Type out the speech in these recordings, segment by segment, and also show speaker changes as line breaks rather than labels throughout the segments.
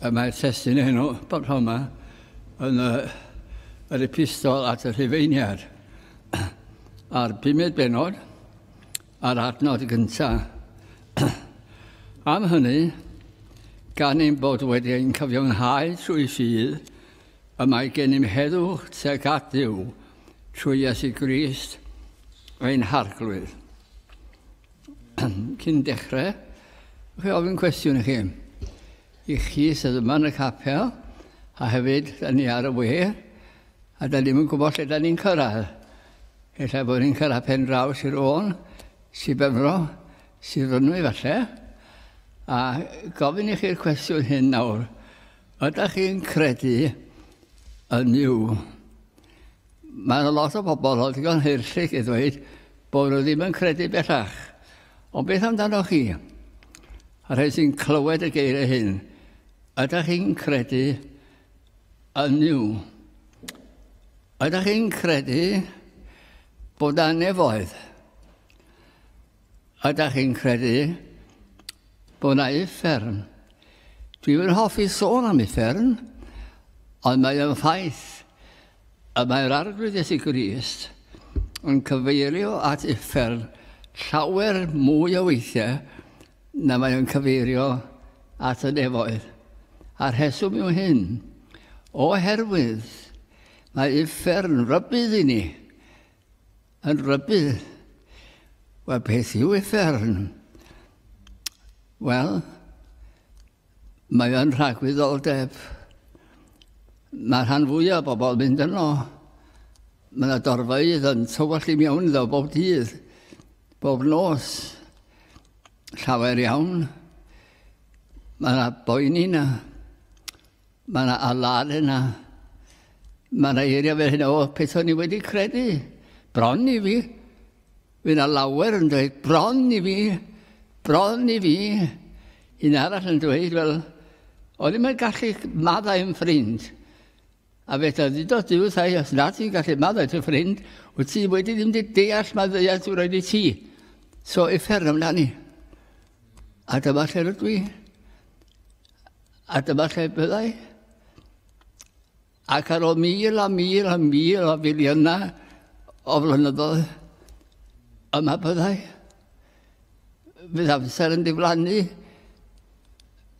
y mae testyn enw bob rhan yma yn y, yr epistol at y rhifeiniad. A'r bumed benod, a'r adnod gyntaf. Am hynny, gan ein bod wedi ein cyfiawnhau trwy ffydd, Y mae gennym heddwch tuag at Dduw trwy Iesu Grist, ein harglwydd. Cyn dechrau, chi ofyn cwestiwn i chi. I chi sydd yma yn y capel, a hefyd, da ni ar y we, a da ni'n gwybod lle da ni'n cyrraedd. Efallai bod ni'n cyrraedd pen draw sy'n rôn, sy'n bemro, sy'n rynnu falle. A gofyn i chi'r cwestiwn hyn nawr, Ydych chi'n credu yn yw? Mae yna lot o bobl o ddigon hirllug i ddweud bod nhw ddim yn credu bellach. Ond beth amdanoch chi? A rhaid sy'n clywed y geiriau hyn, ydych chi'n credu yn yw? Ydych chi'n credu bod anefoedd? Ydach chi'n credu bod yna uffern? Dwi'n yn hoffi sôn am uffern, ond mae o'n ffaith y mae'r Arglwydd Iesu Grist yn cyfeirio at uffern llawer mwy o weithiau na mae o'n cyfeirio at y nefoedd. A'r rheswm yw hyn, oherwydd mae uffern rybydd i ni, Yn rhybudd. Wel, beth yw uffern? Wel, mae o'n rhagwyddoldeb. Mae rhan fwy o bobl mynd yno. Mae yna dorfeydd yn tywall i mewn iddo bob dydd, bob nos. Llawer iawn. Mae yna boeni yna. Mae yna alad yna. Mae yna eiriau fel hyn o pethau ni wedi credu. Bron i fi. Fy yna lawer yn dweud, bron i fi, bron i fi. Un arall yn dweud, fel, o'n i'n mynd gallu maddau yn ffrind. A fe ta ddido ti wrthau, os na ti'n gallu maddau dy ffrind, wyt ti wedi ddim wedi deall maddeuad sy'n rhaid i ti. So, effer amdani. A dyma lle rydw i. A dyma lle byddai. Ac ar ôl mil a mil a mil o filiynau o flynyddoedd, yma byddai. Bydd amser yn diflannu,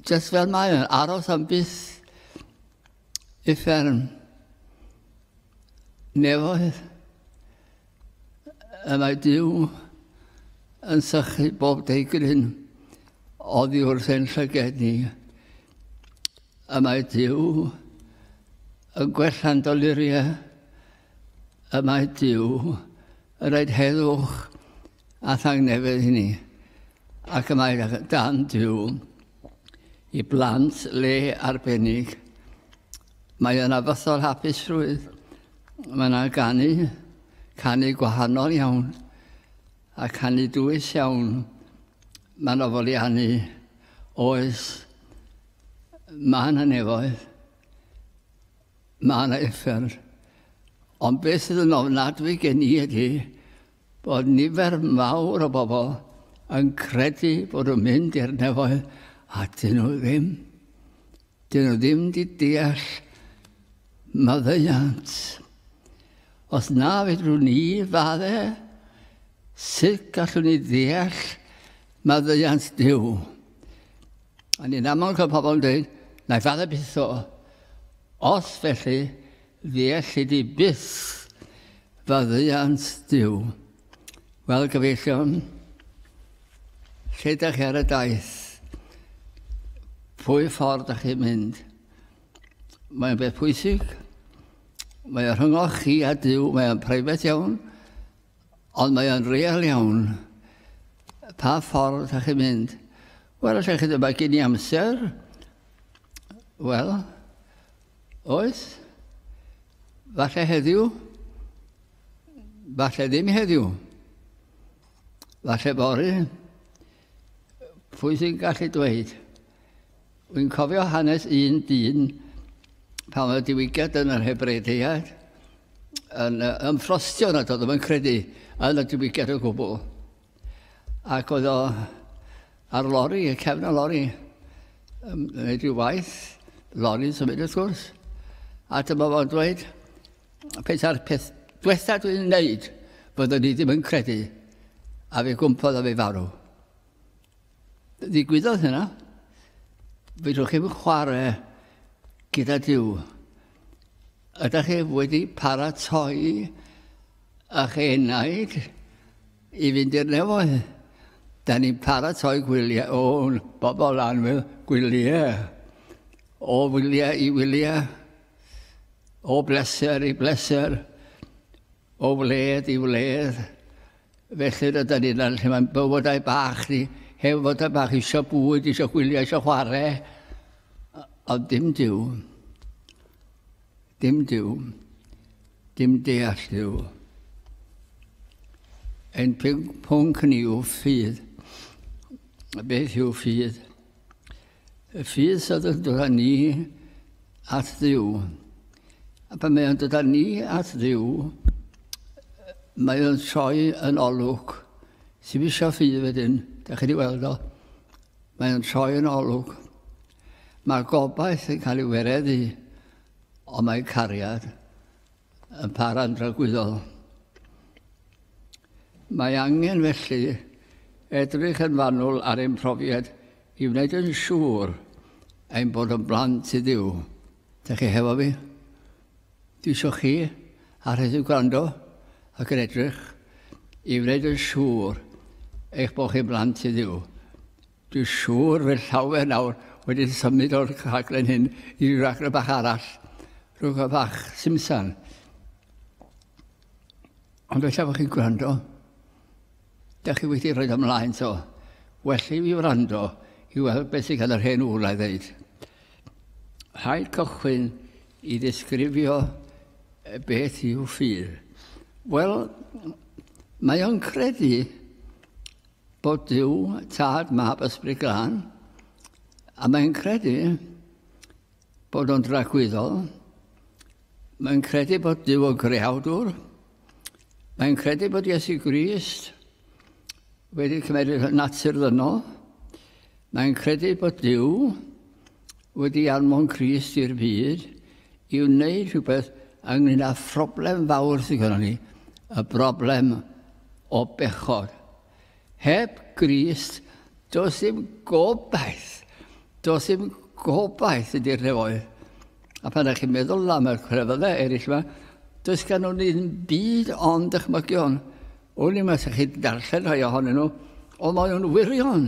jyst fel mae yn aros am byth i fferm nefoedd. Y mae Duw yn sychu bob deigryn oddi wrth ein llyged ni. Y mae Duw yn gwella'n doluriau. Y mae Duw yn rhaid heddwch a thangnefedd i ni. Ac y mae dan Duw i blant le arbennig. Mae yna fythol hapusrwydd Mae yna ganu, canu gwahanol iawn, a canu dwys iawn. Mae yna folianu oes, mae yna nefoedd, mae yna effer. Ond beth sydd yn ofnadwy gen i ydy bod nifer mawr o bobl yn credu bod nhw'n mynd i'r nefoedd a dyn nhw ddim. Dyn nhw ddim di deall maddeuant. Os na fedrwn ni fadde, sut gallwn ni ddeall maddeuant Dyw? A ni'n aml cael pobl yn dweud, na i fadde byth o. Os felly, Fe alli di byth faddeuant Duw. Wel, gyfeillion, lle da chi ar y daith? Pwy ffordd da chi'n mynd? Mae'n beth pwysig. Mae o'n rhyngoch chi a Duw, mae o'n preifat iawn, ond mae o'n real iawn. Pa ffordd da chi'n mynd? Wel, allai chi ddim mae gen i amser. Wel, Oes. Falle heddiw. Falle ddim heddiw. Falle bori. Pwy sy'n gallu dweud? Wy'n cofio hanes un dyn pan oedd diwygiad yn yr hebreidiaid yn ymffrostio nad oedd ddim yn credu yn y diwygiad o gwbl. Ac oedd o ar lori, y cefn y lori, yn gwneud rhyw waith, lori yn symud wrth gwrs. A dyma fo'n dweud, pethau'r peth diwetha dwi'n neud, byddwn ni ddim yn credu, a fe gwmpodd a fe farw. Ddigwyddodd hynna, fydwch chi'n chwarae gyda Dyw. Ydych chi wedi paratoi a'ch enaid i fynd i'r nefoedd. Da ni'n paratoi gwyliau o'n bobl anwyl gwyliau. O wyliau i wyliau, o bleser i bleser, o wledd i wledd. Felly rydyn ni'n yna lle mae'n bywydau bach ni, heb fod y bach eisiau bwyd, eisiau gwyliau, eisiau chwarae, ond dim diw. Dim Duw, dim deall Duw. Ein pwnc ni yw ffydd. Beth yw ffydd? Y ffydd sydd yn dod â ni at ddiw. A pan mae'n dod â ni at ddiw, mae o'n troi yn olwg. Ti'n misio ffydd wedyn, da chi wedi weld o. Mae o'n troi yn olwg. Mae gobaith yn cael ei wereddu, ond mae cariad yn para'n dragwyddol. Mae angen felly edrych yn fanwl ar ein profiad i wneud yn siŵr ein bod yn blant i ddiw. Da chi hefo fi? Dwi eisiau chi a rhaid i gwrando ac yn edrych i wneud yn siŵr eich bod chi'n blant i ddiw. Dwi siŵr fydd llawer nawr wedi symud o'r rhaglen hyn i ryw raglen bach arall, rhywbeth bach simsan. Ond oes efo chi'n gwrando, da chi wedi rhoi ymlaen to. Well i fi wrando i weld beth sy'n cael yr hen ŵr a'i ddeud. Rhaid cychwyn i ddisgrifio beth yw ffydd. Wel, mae o'n credu Bod Duw, Tad, Mab, Ysbryd Glân, a mae'n credu bod o'n dragwyddol, mae'n credu bod Duw o greawdwr, mae'n credu bod Iesu Grist wedi cymeriad natur ddynol, mae'n credu bod Duw wedi anfon Crist i'r byd i wneud rhywbeth ynglyn â phroblem fawr sydd gyda ni, y broblem o bechod. Heb Grist, does dim gobaith. Does dim gobaith ydy'r llefoedd. A pan ydych chi'n meddwl am y crefyddau eraill yma, does gan nhw ddim byd ond dychmygion. O'n i'n meddwl chi darllen rhai ohonyn nhw, ond maen nhw'n wirion.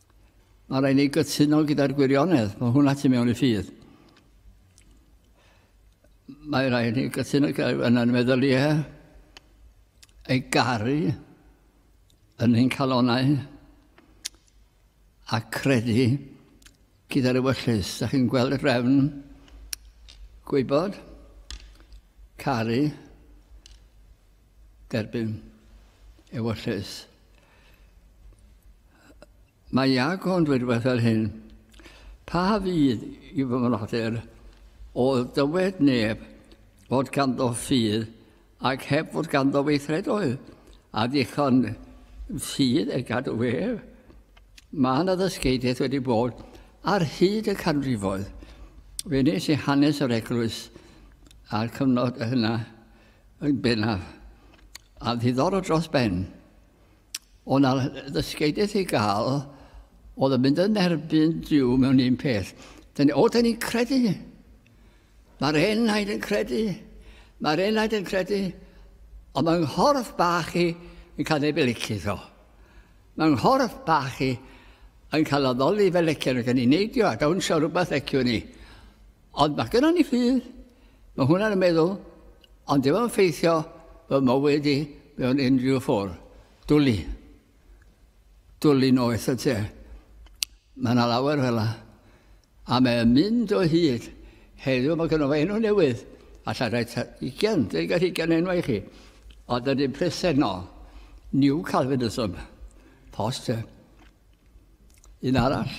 Mae rhaid ni gytuno gyda'r gwirionedd. Mae hwnna tu mewn i ffydd. Mae rhaid ni gytuno gyda'r yna yn meddwl ie, ei garu yn ein calonau a credu gyda'r ewyllys. Da chi'n gweld y drefn gwybod, caru, derbyn ewyllys. Mae Iago yn dweud rhywbeth fel hyn. Pa fydd i fy mrodyr o dywed neb fod ganddo ffydd ac heb fod ganddo weithredoedd a ddichon ffydd ei gadw ef? Mae yna ddysgeidiaeth wedi bod ar hyd y canrifoedd. Fe nes i hanes yr eglwys a'r cyfnod yna Yn bennaf, a ddiddorol dros ben, o na ddysgeideth i gael oedd yn mynd yn erbyn Dyw mewn un peth. Dyn, o, dyn ni'n credu. Mae'r enaid yn credu. Mae'r enaid yn credu. Ond mae nghorff bach i yn cael ei belicu tho. Mae nghorff bach i yn cael addoli fel lecen ac yn ei neidio a dawnsio rhywbeth lecwn ni. Ond mae gynnon ni ffydd, mae hwnna yn y meddwl, ond ddim yn ffeithio fy mywyd i mewn unrhyw ffwrdd. Dwli. Dwli noeth y te. Mae yna lawer fel yna. A mae'n mynd o hyd. Heddiw mae gynno fo enw newydd. Alla rai ugen, deg ar ugen enwau i chi. Ond yn un presennol, New Calvinism. Post te. Un arall,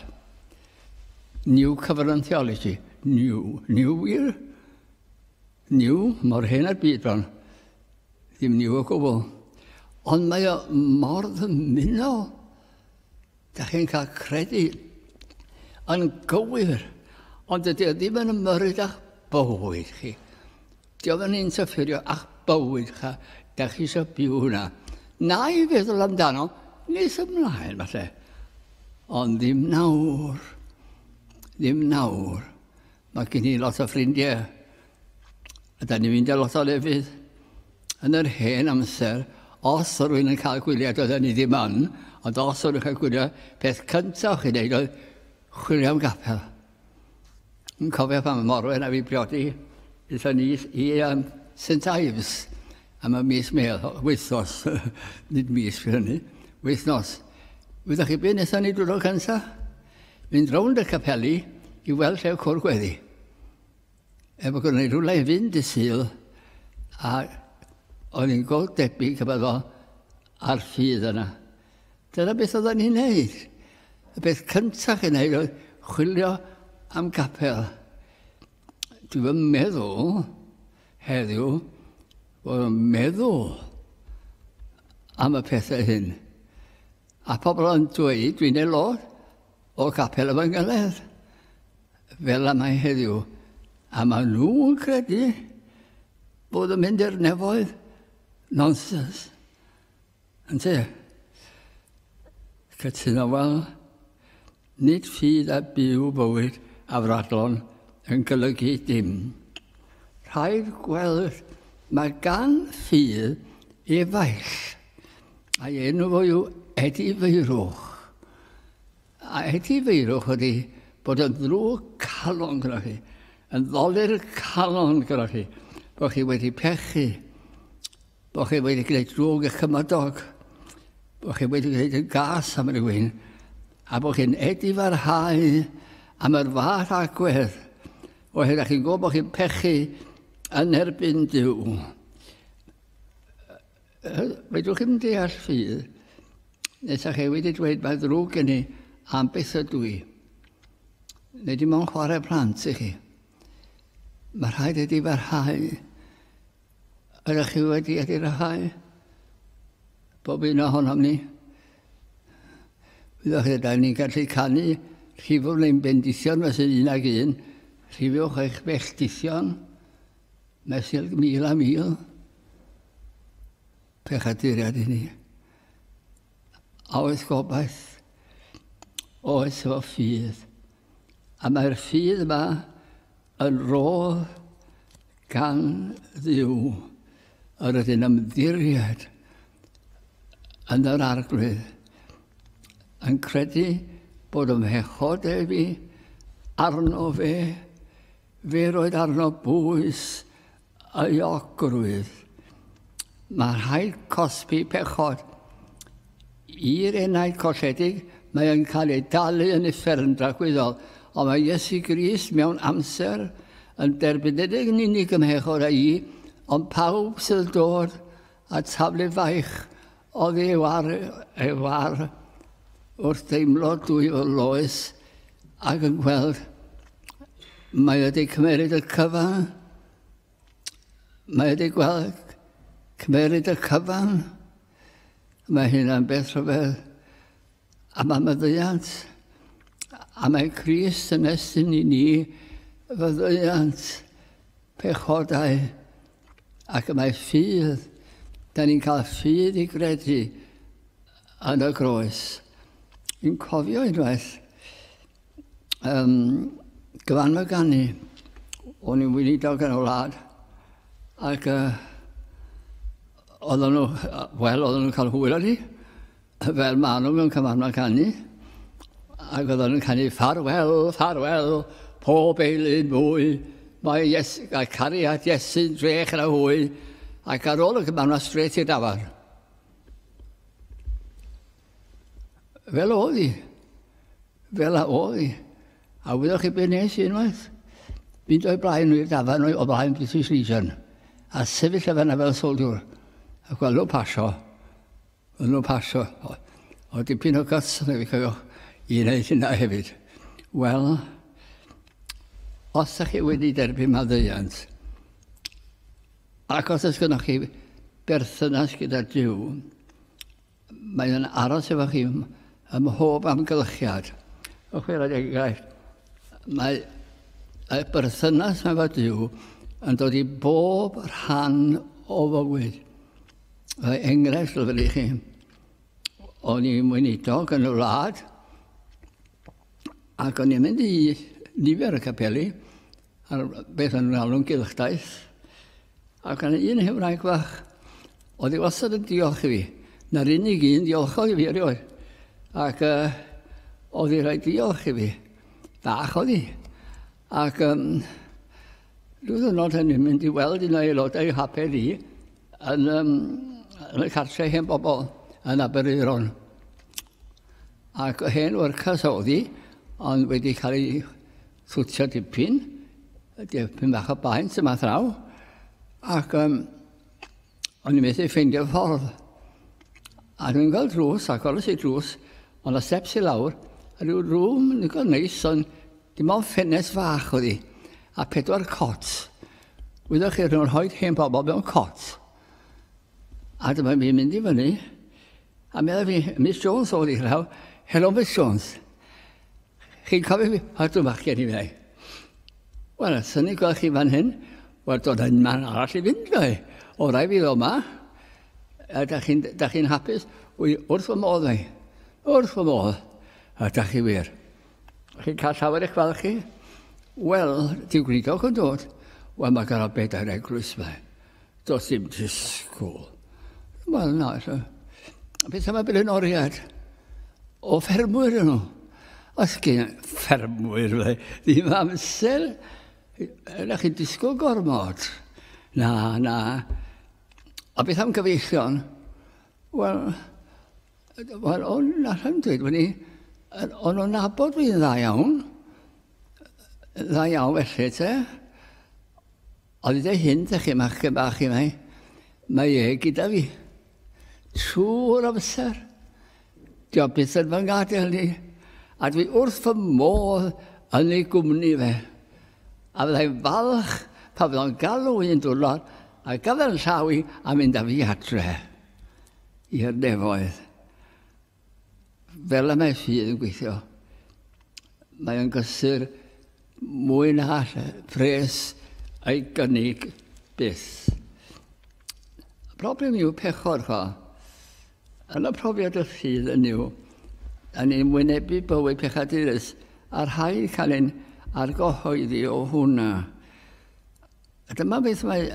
New Covenant Theology, New, New wir, New, mor hen ar byd bron, ddim New o gwbl. Ond mae o mor ddymunol. Da chi'n cael credu yn gywir, ond dydy o ddim yn ymyrryd â'ch bywyd chi. Dio ddim yn interfferio â'ch bywyd chi, da chi eisiau byw hwnna. Na i feddwl amdano, nes ymlaen falle. Ond ddim nawr. Ddim nawr. Mae gen i lot o ffrindiau. A da ni'n mynd â lot o lefydd. Yn yr hen amser, os oedd rhywun yn cael gwyliau, doedd ni ddim yn, ond os oedd rhywun yn cael gwyliau, peth cyntaf chi'n neud oedd chwilio am gapel. Yn cofio pan mae Morwen a fi briodi, byddwn ni i um, St Ives am y mis mel, wythnos, nid mis fi hynny, wythnos. Wyddoch chi beth nesaf ni drwy'r cyntaf? Mynd rownd y capeli i weld lle y cwr gweddi. Er bod gynna i rhywle i fynd i Sul, a o'n i'n gweld debyg yma ddo ar ffydd yna. Dyna beth oedden ni'n neud. Y beth cyntaf chi'n neud oedd chwilio am gapel. Dwi'n fy meddwl heddiw bod yn meddwl am y pethau hyn. A pobl yn dweud, dwi'n neud lod o gapel yma yn Gynedd. fel y mae heddiw, a maen nhw'n credu bod yn mynd i'r nefoedd nonsens. Ynte? Cytuno wel, nid ffydd a byw bywyd afradlon yn golygu dim. Rhaid gweld mae gan ffydd efaill, a'i enw fo yw Edi Feirwch. A etifeirwch ydy bod yn ddrwg calon gyda chi, yn ddolur calon gyda chi, bod chi wedi pechu, bod chi wedi gwneud drwg eich cymydog, bod chi wedi gwneud yn gas am rywun, a bod chi'n edifarhau am yr fath agwedd, oherwydd chi'n gwybod bod chi'n pechu yn erbyn Dyw. Fedrwch chi'm deall ffydd. Nesa chi wedi dweud mae ddrwg gen i am beth ydw i. Neu dim ond chwarae plant i chi. Mae rhaid i di farhau. Ydych chi wedi wedi rhai? Bob un ohonom ni. Fyddwch chi, da ni'n gallu canu rhifwr neu'n bendithion fes un ag un. Rhifiwch eich belltithion. Mesur mil a mil pechaduriad i ni. A oes gobaith? Oes efo ffydd. A mae'r ffydd yma yn rôl gan ddiw yr ydyn ymddiried yn yr arglwydd yn credu bod ymhechod efi arno fe Fe roedd arno bwys euogrwydd. Mae rhaid cosbi pechod. I'r enaid colledig, mae yn cael ei dalu yn uffern dragwyddol, ond mae Iesu Grist mewn amser yn derbyniedig yn unig ymhechor â i, ond pawb sydd dod A taflu baich oddi ei war, ei war wrth deimlo dwy o loes ac yn gweld mae wedi cymeryd y cyfan. Mae wedi gweld cymeryd y cyfan. Mae hynna'n beth rhyfedd. A mae myddeuant, a mae Christ yn estyn i ni fyddeuant pechodau, ac y mae ffydd, da ni'n cael ffydd i gredu yn y groes. Yn cofio unwaith, um, gyfan mae gan ni, o'n i'n weinidog yn y wlad, ac uh, oedden nhw, wel, oedden nhw'n cael hwyl â ni, fel maen nhw mewn cyfarfod canu, ac oedd yn canu ffarwel, ffarwel, pob eilun mwy, mae yes, a cariad Iesu'n drech yn y hwy, ac ar ôl y cyfarfod stret i'r dafar. Fel oedd hi, fel a oedd hi, a wyddoch chi beth nes i unwaith? Fynd o'i blaen i'r dafar o blaen British Legion, a sefyll y fanna fel soldiwr, a gweld nhw pasio, Yn nhw pasio. O dipyn o gyts yn ei cofio i wneud hynna hefyd. Wel, os da chi wedi derbyn maddeuant, ac os ys gynnwch chi berthynas gyda Dyw, mae yna aros efo chi ym mhob amgylchiad. O chwer oedd enghraifft, mae y berthynas efo Dyw yn dod i bob rhan o fywyd. Mae enghraifft o fyddi chi. O'n i'n mwynidog yn y wlad, ac o'n i'n mynd i nifer y capeli, ar beth yn alw'n gylchdaith, ac yna un hewraig fach, oedd i wastad yn diolch i fi. Na'r unig un diolchog i fi erioed. Ac uh, oedd i roi diolch i fi. Bach oedd i. Ac um, rhyw ddynod hynny'n mynd i weld un o aelodau i hapel i yn, um, yn y cartre hen bobl yn Abereiron. Ac o hen wrcas oedd hi, ond wedi cael ei thwtio dipyn, dipyn bach o baent yma thraw. Ac um, O'n i'n methu ffeindio ffordd. A dwi'n gweld drws, a goles i drws, ond y steps i lawr, a rhyw rŵm yn ddigon neis, ond dim ond ffenest fach oedd hi, a pedwar cot. Wyddoch chi, rhywun rhoi hen bobl mewn cot. A dyma fi'n mynd i fyny, a meddwl fi, Miss Jones oedd i llaw, hello Miss Jones. Chi'n cofio fi? A dwi'n fach gen i fyddai. Wel, sy'n ni gweld chi fan hyn, Wel, doedd yn man arall i fynd, ddoe. O rai fi ddod yma, a da chi'n chi hapus, wy wrth fy modd, ddoe. Wrth fy modd. A da chi wir. Chi'n cael llawer eich gweld chi? Wel, ti'n gwlido yn dod. Wel, mae gan o bedair eglwys fe. Does dim disgwyl. Wel, na, so. Beth yma bydd yn oriad? O ffermwyr yn nhw. Os gen ffermwyr fe, ddim amser. Ydych chi'n disgwyl gormod? Na, na. A beth am gyfeillion? Wel, wel o'n allan dweud wedi, o'n o'n nabod fi'n dda iawn, dda iawn felly te. Ond i dweud hyn, da chi, machgen bach i mae, mae e gyda fi. Trwy'r amser, dio o byth yn fy ngadael i, a dwi wrth fy modd yn ei gwmni fe. A fyddai'n falch pa fydd o'n galw un dwrnod a gafael llaw i a mynd â fi adre i'r nefoedd. Fel y mae ffydd yn gweithio, mae o'n gysur mwy na all pres ei gynnig byth. Y problem yw pechod cho. Yn y profiad y ffydd yn yw, a ni'n wynebu bywyd pechadurus, a rhaid cael ein argyhoeddi o hwnna. Dyma beth mae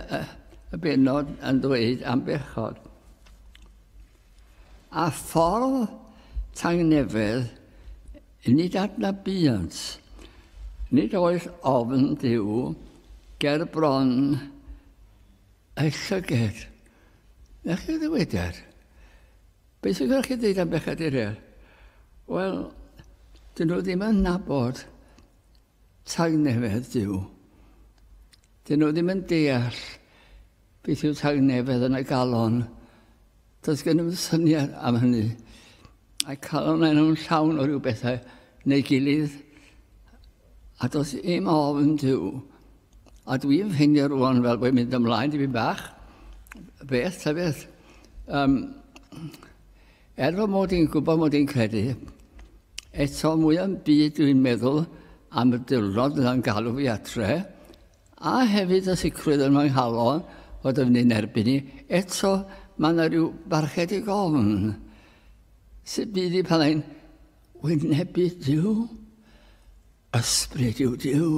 y benod yn dweud am bechod. A ffordd tangnefedd nid adnabuant, nid oes ofn Duw ger bron ei llyged. Na chi ddyweder. Beth sy'n gallu dweud am bechaduriaid? Wel, dyn nhw ddim yn nabod Tangnefedd yw. Dyn nhw ddim yn deall beth yw tangnefedd yn y galon. Does gen nhw'n syniad am hynny. A'i calon yn nhw'n llawn o ryw bethau neu gilydd. A does im ofn dyw. A dwi'n ffeindio rwan fel bod mynd ymlaen i fi bach. Beth, ta beth. Um, Er fy mod i'n gwybod mod i'n credu, eto mwy am byd dwi'n meddwl am y diwrnod yna'n galw fi atre, a hefyd y sicrwydd yn fy nghalon fod yn mynd erbyn i, eto mae yna rhyw barched i gofn. Sut bydd i pan ein wynebu Dyw? Ysbryd yw Dyw.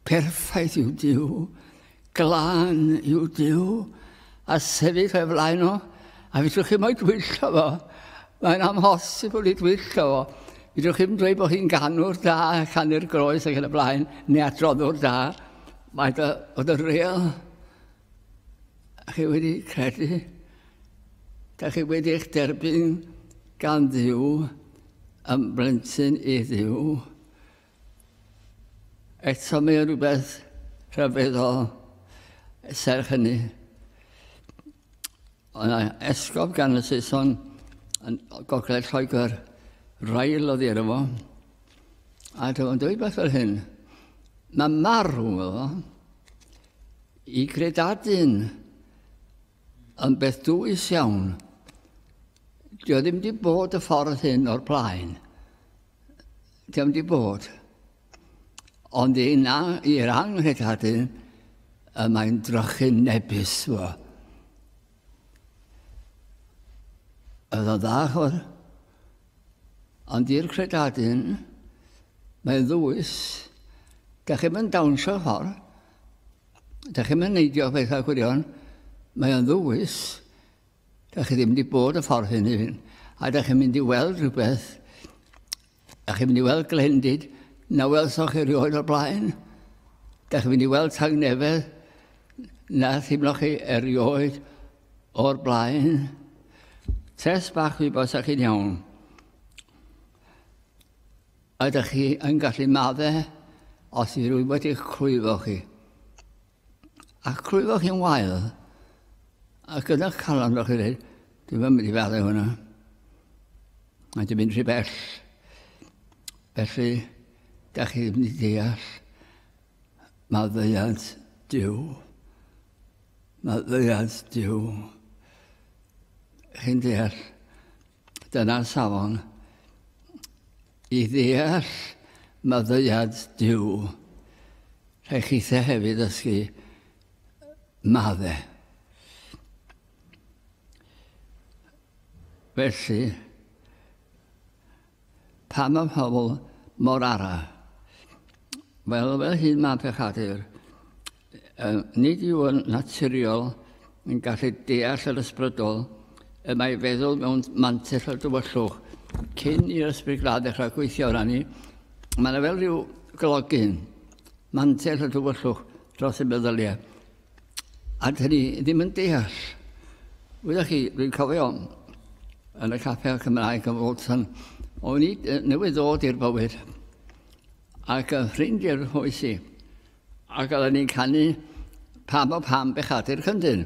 Perffaith yw Duw, glân yw Duw, a sefyll o'i flaen o, a fedrwch chi mo'i dwyllo fo. Mae'n amhosibl i dwyllo fo. Fedrwch chi'n dweud bod hi'n ganwr da, canu'r groes ac yn y blaen, neu adroddwr da. Mae dy fod yn real. A chi wedi credu. Da chi wedi eich derbyn gan ddiw, yn blentyn i ddiw. Eto mae o'n rhywbeth rhyfeddol serch hynny. Ond esgob gan y Saeson yn gogledd Lloegr, rail o ddier efo. A dyma'n dweud beth fel hyn. Mae marw efo i gredadun Yn beth dwys iawn. Dio ddim di bod y ffordd hyn o'r blaen. Dio ddim di bod. Ond i'r anghredadun, y mae'n drychyn nebus fo. Oedd o'n dda, chwr. Ond i'r credadun, mae'n ddwys. Da chi'n mynd dawnsio ffordd. Da chi'n mynd neidio pethau gwirion, mae o'n ddwys. Da chi ddim wedi bod y ffordd hyn i hyn. A da chi'n mynd i weld rhywbeth, da chi'n mynd i weld glendid, na welsoch chi rioed o'r blaen. Da chi'n mynd i weld tangnefedd, na thimloch chi erioed o'r blaen. Tres bach fi bod chi'n iawn. Ydych chi yn gallu madde os yw rhywbeth wedi clwyfo chi? A clwyfo chi'n wael, a gyda calon o'ch chi dweud, dwi'n mynd i fadde hwnna. Mae wedi mynd rhy bell. Felly, da chi ddim wedi deall maddeuant diw. Maddeuant diw. Chi'n deall? Dyna'r safon i ddeall maddeuad Duw. Rhaid chithau hefyd ddysgu madde. Felly, pa mae pobl mor ara? Wel, fel hyn mae pechadur Nid yw'n naturiol yn gallu deall yr ysbrydol y mae feddwl mewn mantell o dywyllwch cyn i'r ysbryd glad ddechrau gweithio arni. Mae yna fel rhyw glogyn, mantell o dywyllwch dros y meddyliau. A dyn ni ddim yn deall. Wyddoch chi, dwi'n cofio yn y caffe Cymraeg yn Wolton, o'n i newydd ddod i'r bywyd ac y ffrindiau hoes i. Ac oedden ni'n canu pam o pam bechadur cyndyn.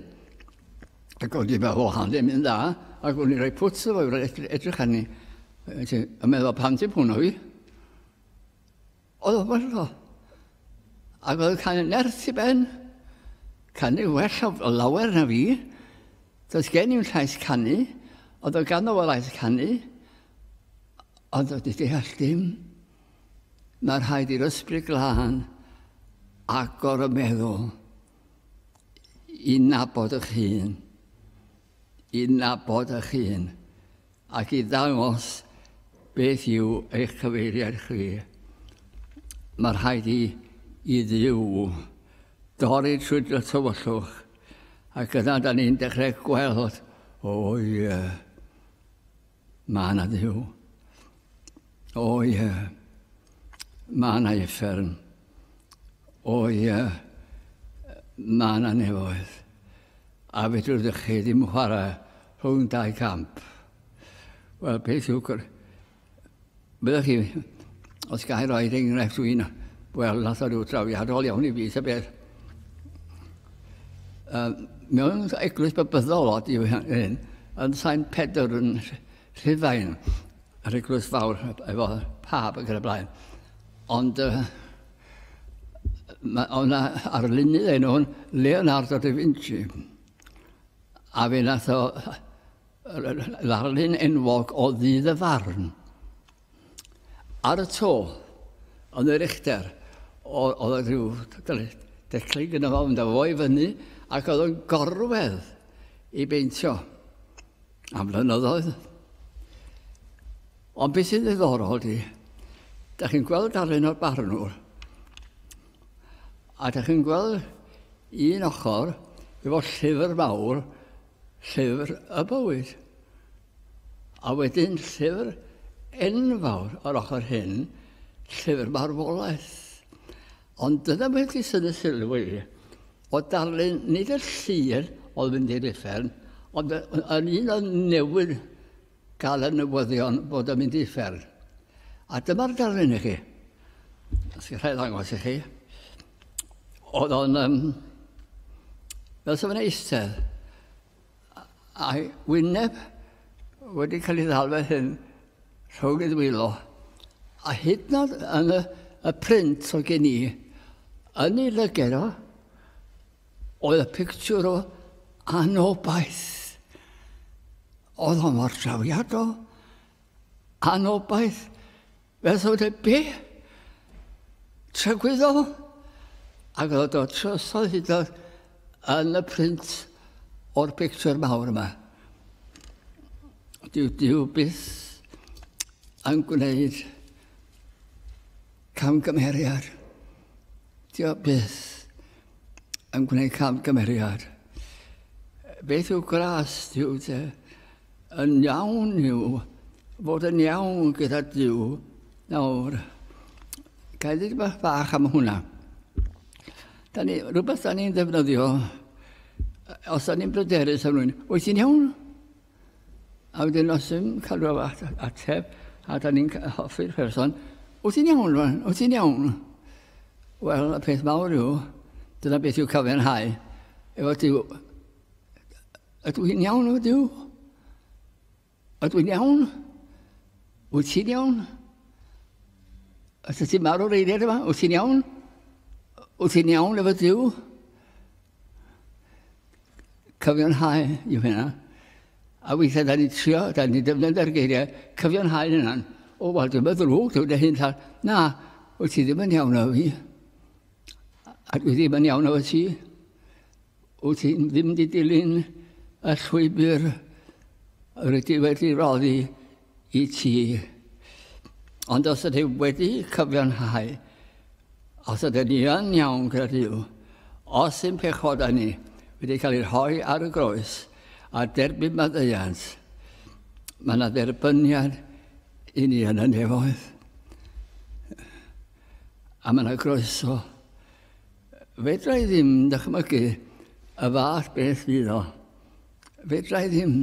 Ac oedd i fel o hande mynd dda, ac o'n i'n rhoi pwt o fo, edrych arni. A meddwl, pam ti'n pwno fi? Oedd o'n fyrdd o. Ac oedd canu nerth i ben, canu well o, o lawer na fi. Does gen i'n llais canu, oedd o ganddo fo lais canu, ond oedd wedi deall dim. Mae rhaid i'r ysbryd glân agor y meddwl i nabod eich hun, i nabod eich hun, ac i ddangos beth yw eich cyfeiriad chwi. Mae rhaid i, i ddiw dorri trwy dy tywyllwch, ac yna da ni'n dechrau gweld, o oh, ie, yeah. Mae yna Dduw. O ie. Mae yna uffern. O ie. Mae yna nefoedd. A fedrwch ydych chi ddim chwarae rhwng dau camp. Wel, beth yw... Byddech chi, os gael ei roed enghraifft dwi'n gweld nath o ryw drawiadol iawn i fi, ta beth. Uh, mewn eglwys bybyddol o diw hyn, yn sain pedr yn rhyfain, yr eglwys fawr efo pab ac yn y blaen. Ond uh, mae o'na arlunydd enw'n Leonardo da Vinci. A fe nath o ddarlun enwog o ddydd y farn. Ar y to, yn yr uchder, oedd rhyw declig yn yma, mynd â fo i fyny, ac oedd yn gorwedd i beintio am flynyddoedd. Ond beth sy'n ddiddorol di, da chi'n gweld darlun o'r barnwr, a da chi'n gweld un ochr efo llyfr mawr Llyfr y bywyd. A wedyn llyfr enfawr o'r ochr hyn, llyfr marwolaeth. Ond dyna beth sy'n synnu sylw i, o darlun nid y llun oedd mynd i'r uffern, ond yn un oedd newydd Gall y newyddion fod yn mynd uchel. A dyma'r darlun i chi. Os yw'n rhaid ddangos i chi. Oedd o'n... Um, fel sef yn eistedd. A'i wyneb wedi cael ei ddal fel hyn rhwng ei ddwylo. A hyd nod yn y, y print o gen i, yn ei lyged o, Oedd y pictiwr o anobaith. Oedd o mor trawiadol. Anobaith. Beth oedd e be? Tragwyddo. Ac oedd o trosodd hyd oedd yn y print o'r pictiwr mawr yma. Dyw, dyw byth yn gwneud Camgymeriad. Dio byth yn gwneud camgymeriad. Beth yw gras Dyw te? Yn iawn yw fod yn iawn gyda Dyw. Nawr, gael dweud bach bach am hwnna. Da ni, rhywbeth da ni'n ddefnyddio, os da ni'n bryderus am rwy'n, wyt ti'n iawn? A wedyn os yn cael rhyw ateb, a da ni'n hoffi'r person, wyt ti'n iawn rwan, wyt ti'n iawn? Wel, y peth mawr yw, dyna beth yw cafianhau. Efo ti, ydw i'n iawn efo diw? Ydw i'n iawn? Wyt ti'n iawn? Os ydw ti'n marw'r eiriad yma, wyt ti'n iawn? Wyt ti'n iawn efo Dyw? Cyfiawnhau yw hynna. A weithiau da ni'n trio, da ni'n defnyddio'r geiriau cyfiawnhau yna. O, wel, dwi'n meddwl ddrwg, dwi'n dweud hyn tal. Na, wyt ti ddim yn iawn o fi. A dwi ddim yn iawn o ti. Wyt ti ddim wedi dilyn y llwybr rydw wedi roddi i ti, ond os ydy wedi cyfiawnhau, os ydyn ni yn iawn gyda Duw, os yn pechodau ni wedi cael ei rhoi ar y groes a derbyn maddeuant, mae yna dderbyniad i ni yn y nefoedd. A mae yna groeso. Fedra i ddim dychmygu y fath beth fydd o. Fedrai ddim,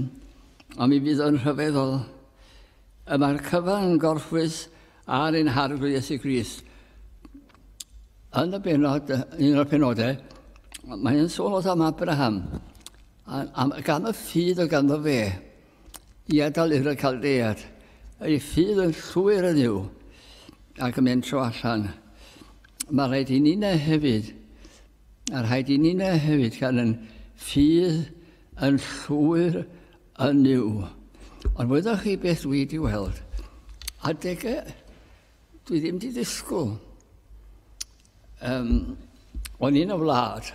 ond mi fydd o'n rhyfeddol. Y mae'r cyfan yn gorffwys ar ein harglwydd Iesu Grist. Yn y benod, un o'r penodau, mae'n sôn wrth am Abraham, am, gan y ffydd o ganddo fe, i adael i'r Caldead, ei ffydd yn llwyr yn yw, ac yn mentro allan. Mae rhaid i ni hefyd A rhaid i ninna hefyd gael yn ffydd yn llwyr yn Nuw. Ond wyddoch chi beth dwi wedi weld? Adegau dwi ddim wedi disgwyl. Um, o'n i'n y wlad,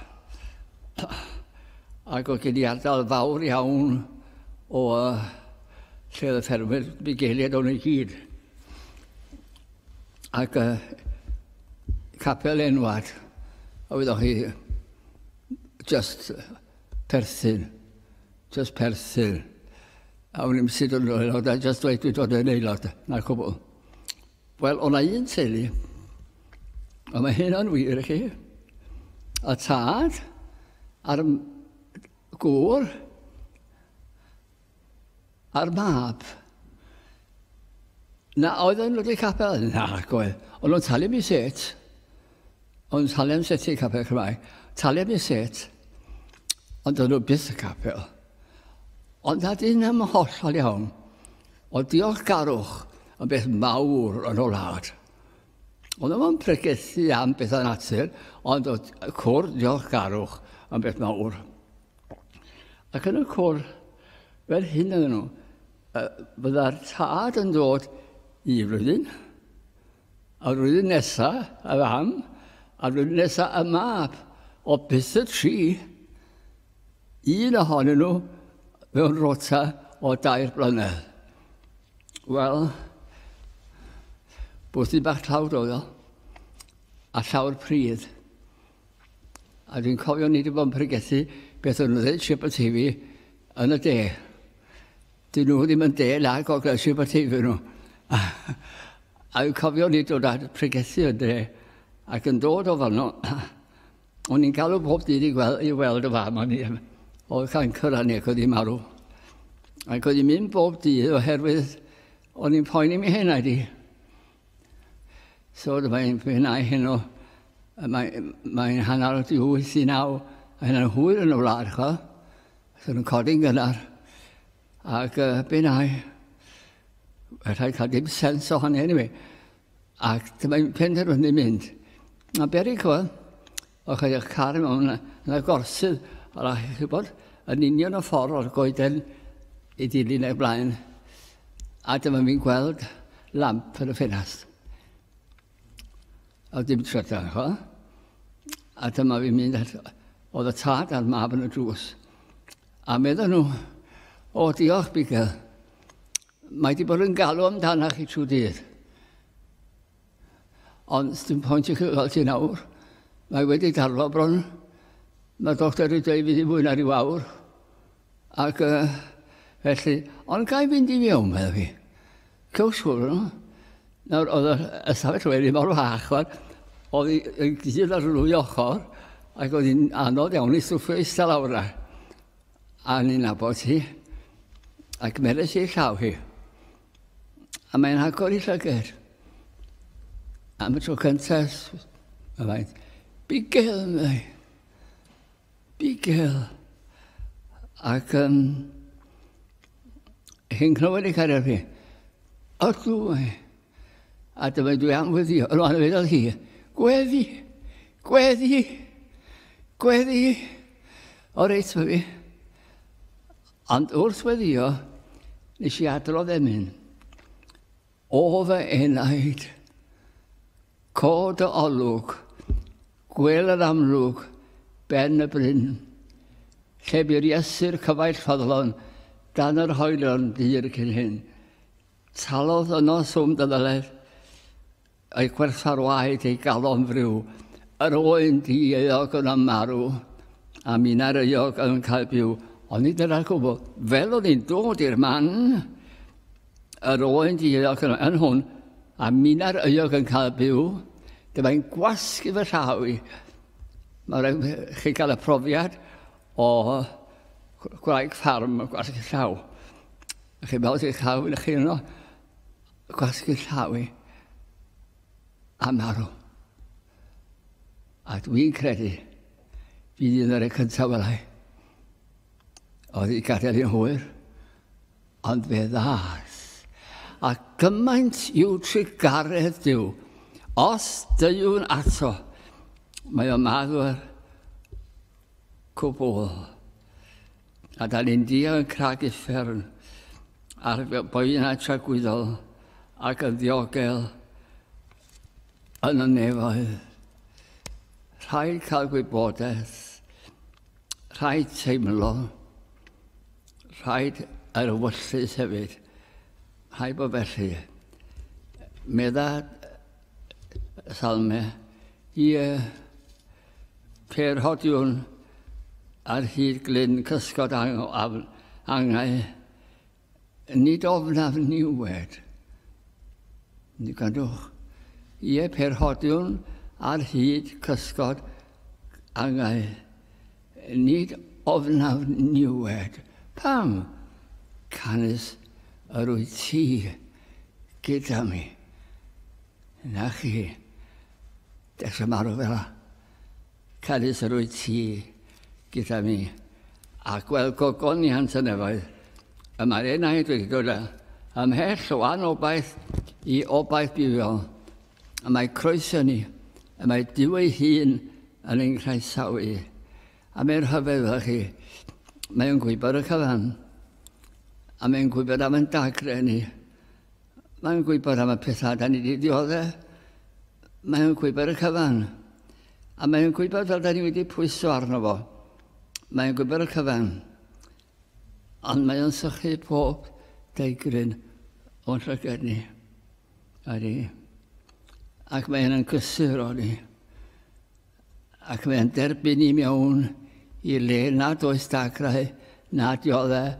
ac o gen i ardal fawr iawn o uh, lle oedd y ffermwyr, mi geliad o'n i gyd. Ac y capel enwad, a oedd o'ch chi just perthyn, just perthyn. A o'n i'n sydd yn aelod, a just dweud dwi'n dod yn aelod, na cwbl. Wel, o'na un teulu, a mae hyn yn wir i chi, y tad a'r gŵr A'r mab? Na, oedd yn rydw i capel? Na, goel. Ond o'n talu mi set. Ond talu am seti capel Cymraeg. Talu mi set. Ond o'n nhw byth y capel. Ond nad un am hollol iawn. O diolchgarwch yn beth mawr yn o lad. Ond yma'n pregethu am bethau natur, ond o cwrdd diolchgarwch yn beth mawr. Ac yn y cwr, fel hyn ydyn nhw, bydda'r tad yn dod i flwyddyn, a flwyddyn nesa y fam, a flwyddyn nesa y mab, o byth y tri, un ohonyn nhw mewn rota o dair blynedd. Wel, bwthyn bach tlawd oedd o, a llawr pryd. A dwi'n cofio ni wedi bod yn pregethu beth o'n nhw'n dweud Sir Aberteifi yn y de. Dyn nhw ddim yn de na gogledd Sir Aberteifi nhw. A, a dwi'n cofio ni dod ar pregethu yn dre ac yn dod o fanno. O'n i'n galw bob dydd i weld, i weld y fam o'n i oedd cael cyrraedd neu oedd hi'n marw. Ac oedd hi'n mynd bob dydd oherwydd o'n i'n poeni mi hynna i di. So dyma i'n fynnau heno, mae'n mae hanner wedi 8 i 9, a hynny'n hwyr yn y wlad, chwa. So nhw'n codi'n gynnar. Ac uh, bynnau, rhaid cael dim sens o hynny, anyway. Ac dyma i'n penderfynu mynd. A beri, chwa, Os chi eich car mewn yn y gorsydd, ar eich chi bod yn union y ffordd o'r goeden i dilyn eich blaen, a dyma fi'n gweld lamp yn y ffenast. A dim trydan, chwa. A dyma fi'n mynd at... Oedd y tad a'r mab yn y drws. A meddyn nhw, o diolch Bigel, mae di bod yn galw amdana chi trwy dydd. Ond dim pwynt i chi gael ti nawr. Mae wedi darfod bron. Mae doctor wedi dweud fydd i fwy na rhyw awr. Ac uh, felly, ond gael fynd i fi own, meddwl fi. Cewch sgwrdd nhw. Nawr, oedd y ystafell wedi mor fach, chwad, oedd yn gyd ar rwy ochr, ac oedd hi'n anodd iawn i stwffio eistedd lawr yna. A ni'n nabod hi, ac meres i'r llaw hi. A mae'n agor i llyged. Am y tro cyntaf, a mae'n, bigel, mae. Bigel. Ac um, hyn clywed ei cariad fi. Odw, mae. A dyma dwi am wedi, ond o'n feddwl hi, gweddi, gweddi, gweddi. O reit, mae fi. Ond wrth weddïo, nes i adrodd emyn o fy enaid. Cod dy olwg, gwel yr amlwg, ben y bryn. Lle bu'r Iesu'r cyfaill ffyddlon, dan yr hoelion dir cyn hyn. Talodd yno swm dy ddyled, Ei gwerthfawroaid ei galon friw. Yr oen di euog yn ymmarw, a minnau'r euog yn cael byw. Ond nid dyna'r gwbl. Fel o'n i'n dod i'r man, yr oen di euog yn, yn hwn, a minnau'r euog yn cael byw, dyma'n gwasgu fy rhaw i. Mae rhaid chi gael y profiad o gwraig ffarm yn gwasgu llaw. Chi'n meddwl chi'n cael yn chi yno, Gwasgu llawi a marw. A dwi'n credu bydd un o'r cyntaf welai oedd i gadael i'n hwyr, ond fe ddas. A gymaint yw trugaredd Dyw, os deuwn ato, mae o maddwr cwbl. A da ni'n diog y crag uffern a'r boenau tragwyddol ac yn ddiogel yn y nefoedd. Rhaid cael gwybodaeth, rhaid teimlo, rhaid yr ywyllus hefyd. Rhaid bod felly. Medda Salme, ie, Pyrhodiwn ar hyd glyn cysgod angau, angau nid ofnaf niwed. Gadwch. Ie, pyrhodiwn ar hyd cysgod angau nid ofnaf niwed. Pam? Canys yr wyt ti gyda mi. Na chi. Dechra marw fel a. Carys yr wyt ti gyda mi. A gweld gogon i hant y nefoedd. Y mae'r enaid wedi dod a. Ymhell o anobaith i obaith bufiol. Y mae croeso ni. Y mae Duw ei hun yn ein croesawu. A mae'n rhyfedd fel chi. Mae'n gwybod y cyfan. A mae'n gwybod am yn dagre ni. Mae'n gwybod am y pethau da ni wedi dioddau. Mae'n gwybod y cyfan. A mae'n gwybod fel da ni wedi pwyso arno fo. Mae'n gwybod y cyfan. Ond mae o'n sychu pob deigryn o'n llygad ni. Ydy. Ac mae hyn yn cysur o'n ni. ac mae'n derbyn i mewn i le nad oes dagrau, na dioddau,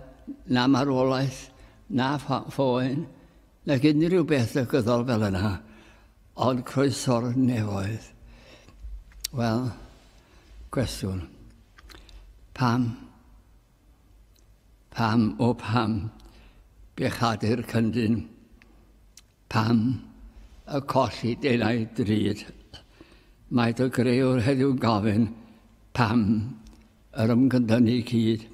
na marwolaeth, na ffôn, nag unrhyw beth negyddol fel yna, ond croeso'r nefoedd. Wel, cwestiwn. Pam? Pam o pam? Bechadu'r cyndyn Pam y colli denau drud? Mae dy greuwr heddiw'n gofyn, pam yr ymgyndynnu i gyd?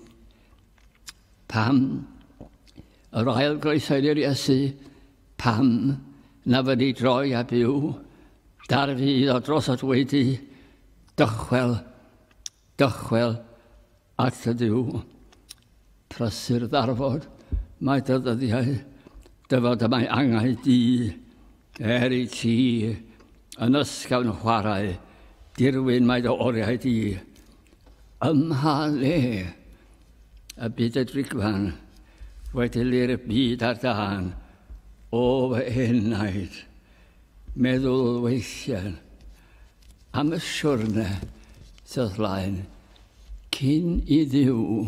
Pam yr ail groesawyr i'r Iesu? Pam na fyny droi a byw? Dar fydd o dros y dweidi, dychwel Dychwel at y Duw, prysur ddarfod, mae dy ddyddiau, dyfod y mae angau di, er i ti yn ysgafn chwarae, dirwyn mae dy oriau di. Ym mha le y byd y drigfan, wedi lir y byd ar dan, o fy enaid. Meddwl weithiau am y siwrne sydd flaen cyn i Dduw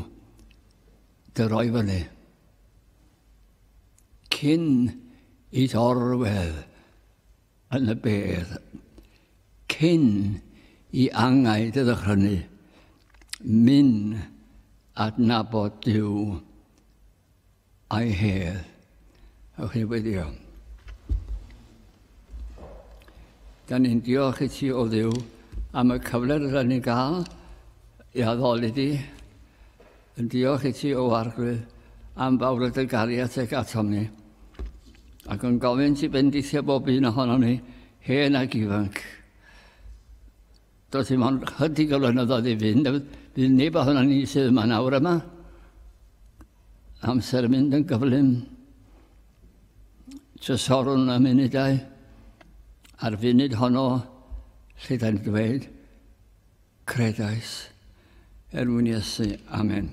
dy roi fyny. Cyn i dorwedd yn y bedd. Cyn i angau dy ddychrynu. Myn adnabod Duw I hedd. A chi wedi iawn. Da ni'n diolch i ti o ddiw am y cyfle rydyn ni'n gael i addoli di. Yn diolch i ti o arglwydd am fawr y dy gariad ag atom ni. Ac yn gofyn ti bendithio bob un ohono ni, hen ag ifanc. Does dim ond chydig o flynyddoedd i fynd, a fydd neb o hynny ni sydd yma nawr yma. Amser yn mynd yn gyflym. Trysorwn y munudau a'r funud honno lle da ni'n dweud credais er mwyn Iesu. Amen.